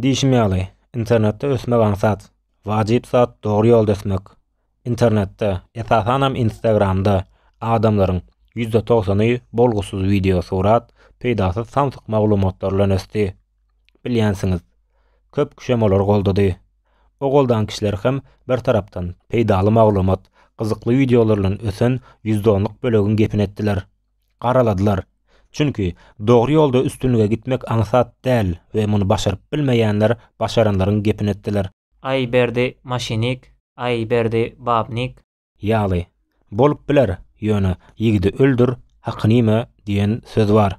Diýşim ýaly, internetde ösmek aňsat, wajyp zat dogry ýolda ösmek. Internetde, esasanam Instagramda adamlaryň ýüzde togsany bolgusyz wideosurat, peýdasyz samsyk maglumatlar bilen ösdi. Bilýänsiňiz, köp kişem olary goldady. O goldan kişiler hem bir tarapdan peýdaly maglumat, gyzykly wideolar bilen ösen ýüzde onluk bölegiň gepini etdiler. Garaladylar. Çünki, dogry ýolda üstünlige gitmek aňsat däl we muny başaryp bilmeýänler başaranlaryň gepini etdiler. Aý Berdi maşinik, aý Berdi babnik. Ýaly, bolup biler, ýöne, Ýigidi öldür, hakyny ime diýen söz bar.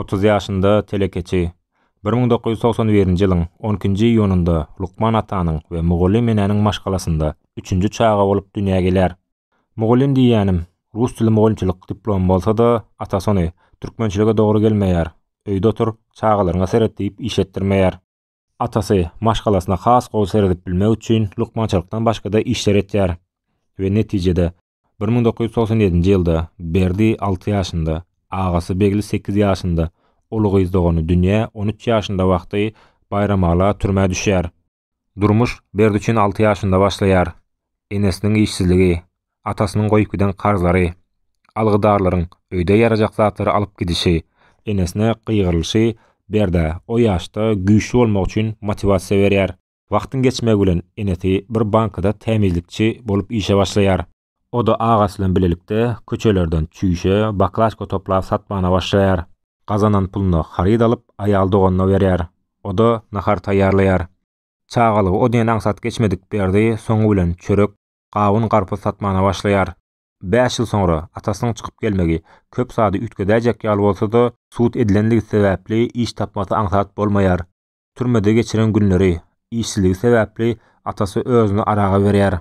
Otuz ýaşynda telekeçi bir müň dokuz ýüz togsan birinji ýylyň on ikinji iýunynda lukman atanyň we mugallym enäniň maşgalasynda üçünji çaga bolup dünýä gelýär. Mugallym diýýänim, rus dili mugallymçylyk diplomy bolsa-da, atasy ony, Türkmençilige dogry gelmeýär, öýde otur, çagalaryňa seret diýip iş etdirmeýär. Atasy, maşgalasyna has gowy seredip bilmek üçin lukmançylykdan başga-da işler etýär we netijede, Bir müň dokuz ýüz togsan ýedinji ýylda Berdi alty ýaşynda, agasy Begli sekiz ýaşynda, uly gyz dogany Dünýä on üç ýaşynda wagty Baýramala türmä düşýär. Durmuş Berdi üçin alty ýaşynda başlaýar. Enesiniň işsizligi, atasynyň goýup giden karzlary, algydarlaryň öýde ýarajak zatlary alyp gidişi, enesine gygyrylyşy Berdä o ýaşda güýçli bolmak üçin motiwasiýa berýär. Wagtyň geçmegi bilen enesi bir bankada tämizlikçi bolup işe başlaýar. O-da agasy bilen bilelikde köçelerden çüýşe, baklažka toplap satmana başlaýar. Gazanan puluna haryt alyp, aýal doganyna berýär. O-da nahar taýýarlaýar. Çagalygy o diýen aňsat geçmedik Berdi soňy bilen çörek, gawun-garpyz satmana başlaýar. Bäş ýyl soňra atasynyň çykyp gelmegi köp zady üýtgedäýjek ýaly bolsa-da, sud edilenligi sebäpli iş tapmasy aňsat bolmaýar. Türmede geçiren günleri, işsizligi sebäpli atasy özüni araga berýär.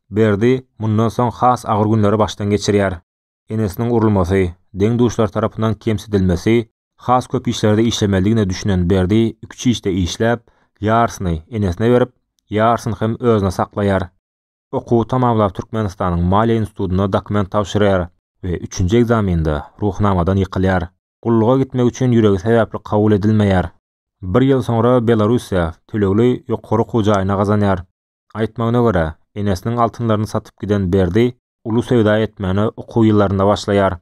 Berdi mundan soň has agyr günleri başdan geçirýär. Enesiniň urulmasy, deň-duşlary tarapyndan kemsidilmesi, has köp işlerde işlemelidigine düşünen Berdi üç işde işläp, ýarysyny enesine berip, ýarysyny hem özüne saklaýar. Okuwy tamamlap Türkmenistanyň Maliýe institutyna dokument tabşyrýar we üçünji ekzamende Ruhnamadan ýykylýar. Gulluga gitmek üçin ýüregi sebäpli kabul edilmeýär. Bir ýyl soňra Belarussiýa tölegli ýokary okuw jaýyny gazanýar. Aýtmagyna görä, enesiniň altynlaryny satyp giden Berdi uly söwda etmäne okuw ýyllarynda başlaýar.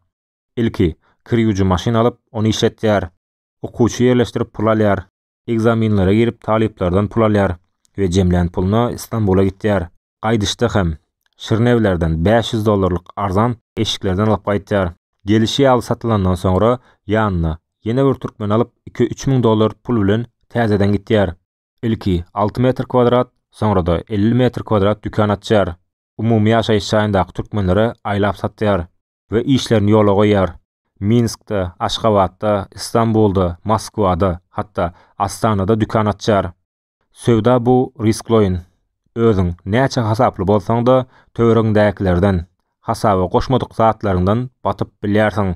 Ilki, kir ýuwujy maşyn alyp, ony işletýär. Okuwçy ýerleşdirip pul alýar. Ekzaminlere girip talyplardan pul alýar we jemlän puluna Stambula gitýär. Gaýdyşda hem, Şirnewlerden bäş ýüz dollarlyk arzan eşiklerden alyp gaýtýar. Gelişi ýaly satylandan soňra, ýanyna ýene bir türkmeni alyp, iki-üç müň dollar pul bilen täzeden gitýär. Ilki alty metr kwadrat, soňra-da elli metr kwadrat dükan açýar. Umumy ýaşaýyş jaýyndaky türkmenlere aýlap satýar we işlerini ýola goýýar. Minskde, Aşgabatda, Istanbulda, Moskwada, hatda Astanada dükan açýar. Söwda bu riskloýyn. Özüň näçe hasaply bolsaň-da, töweregiňdäkilerden, hasaba goşmadyk zatlaryňdan batyp bilýärsiň.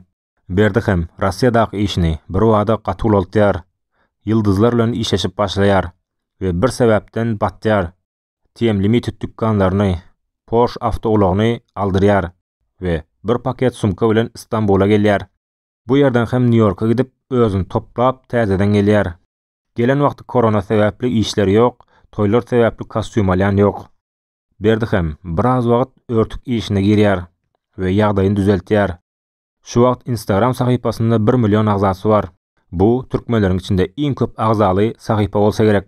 Berdi hem Rossiýadaky işini birbada gaty ulaltýar. Ýyldyzlar bilen işleşip başlaýar we bir sebäpden batýar. TM Limited dükanlaryny, Porsche awtoulagyny aldyrýar we bir paket sumka bilen Istanbula gelýär. Bu ýerden hem Nýu-Ýorka gidip, özüni toplap, täzeden gelýär. Gelen wagty korona sebäpli işleri ýok, toýlar sebäpli kostýum alýan ýok. Berdi hem biraz wagt örtük işine girýär we ýagdaýyny düzeltýär. Şu wagt Instagram sahypasynda bir million agzasy bar. Bu türkmenleriň içinde iň köp agzaly sahypa bolsa gerek.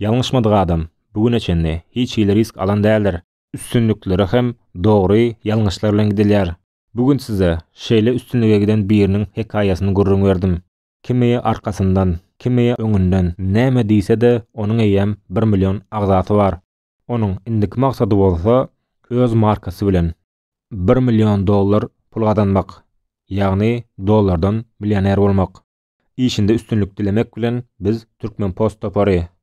Ýalňyşmadyk adam, bu güne çenli hiç hili risk alan däldir. Üstünliklere hem dogry ýalňyşlar bilen gidilýär. Bu gün size şeýle üstünlige giden biriniň hekaýasyny gürrüň berdim. Kimi arkasyndan, kimi öňünden näme diýse-de, onuň eýýäm bir million agzasy bar. Onuň indiki maksady bolsa öz markasy bilen bir million dollar pul gazanmak, ýagny dollardan millioner bolmak. Işinde üstünlik dilemek bilen biz Türkmenpost topary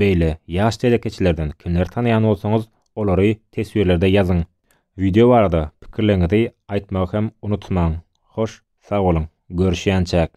Beýle ýaş telekeçilerden kimleri tanaýan bolsaňyz, olary teswirlerde ýazyň. Wideo barada pikirleriňizi aýtmagy hem unutmaň. Hoş, sag boluň, görüşýänçäk!